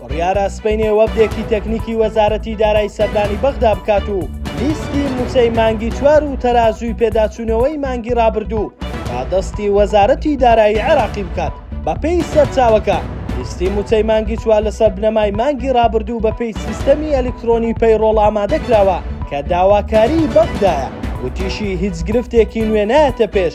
بڕیارە سبەینێ وەفدێکی تەکنیکی وەزارەتی دارای سەردانی بەغدا بکات و لیستی مووچەی مانگی چوار و تەرازووی پێداچوونەوەی مانگی ڕابردوو تا دەستی وەزارەتی دارایی عێراقی بکات بەپێی سەرچاوەکە لیستی مووچەی مانگی چوار لەسەر بنەمای مانگی ڕابردوو بەپێی سیستەمی ئەلیکترۆنی پەیڕۆڵ ئامادە کراوە کە داواکاری بەغدایە وتیشی هیچ گرفتێکی نوێ نایەتە پێش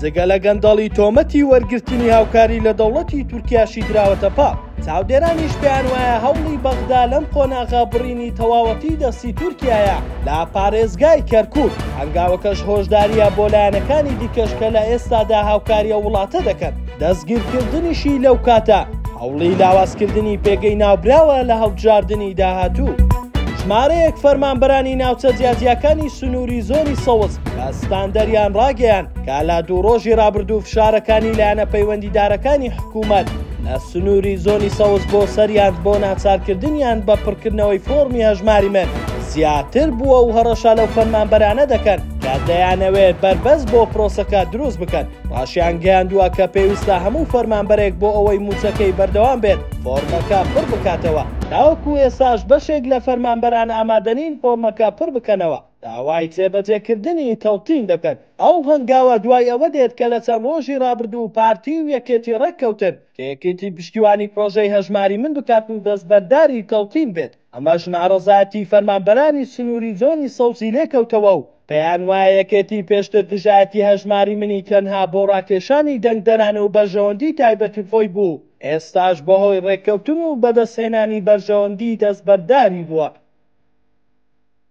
جگە لە گەندەڵی تۆمەتی وەرگرتنی هاوکاری لە دەوڵەتی تورکیاشی دراوەتە پاڵ چاودێرانیش پێیان وایە هەوڵی بەغدا لەم قۆناغە بڕینی تەواوەتی دەستی تورکایە لە پارێزگای کەرکوک هەنگاوەکەش هۆشداریە بۆ لایەنەکانی دیکەش کە لە ئێستادا هاوکاریە وڵاتە دەکەن دەستگیرکردنیشی لەو کاتە هەوڵی لاوازکردنی پێگەی ناوبراوە لە هەڵبژاردنی داهاتوو. ژمارەیەک فەرمانبەرانی ناوچە جیاجیاکانی سنووری زۆنی سەوز کە ستاندەریان ڕاگەیاند کە لە دوو ڕۆژی ڕابردوو فشارەکانی لایەنە پەیوەندیدارەکانی حکوومەت لە سنووری زۆنی سەوز بۆ سەریان بۆ ناچارکردنیان بە پڕکردنەوەی فۆڕمی هەژماری مل زیاتر بووە و هەڕەشە لەو فەرمانبەرانە دەکەن کە دەیانەوێت بەربەست بۆ پرۆسەکە دروست بکەن ڕاشیان گەیاندووە کە پێویستە هەموو فەرمانبەرێک بۆ ئەوەی مووچەکەی بەردەوام بێت فۆرمەکە پڕ بکاتەوە تاوەکو ئێساش بەشێک لە فەرمانبەران ئامادەنین فۆرمەکە پڕ بکەنەوە. داوای جێبەجێکردنی تەوتین دەکەن. ئەو هەنگاوە دوای ئەوە دێت کە لە چەند ڕۆژی ڕابردوو پارتی و یەکێتی ڕێککەوتن کە یەکێتی پشتیوانی پرۆژەی هەژماری من بکات و دەستبەرداری تەوتین بێت، ئەمەش ناڕەزایەتی فەرمانبەرانی سنووری زۆنی سەوزی لێکەوتەوە و پێیانوایە یەکێتی پێشتر دژایەتی هەژماری منی تەنها بۆ ڕاکێشانی دەنگدەران و بەرژەوەندی تایبەتی خۆی بوو، ئێستاش بەهۆی ڕێککەوتن و بەدەستهێنانی بەرژەوەندی دەستبەرداری بووە.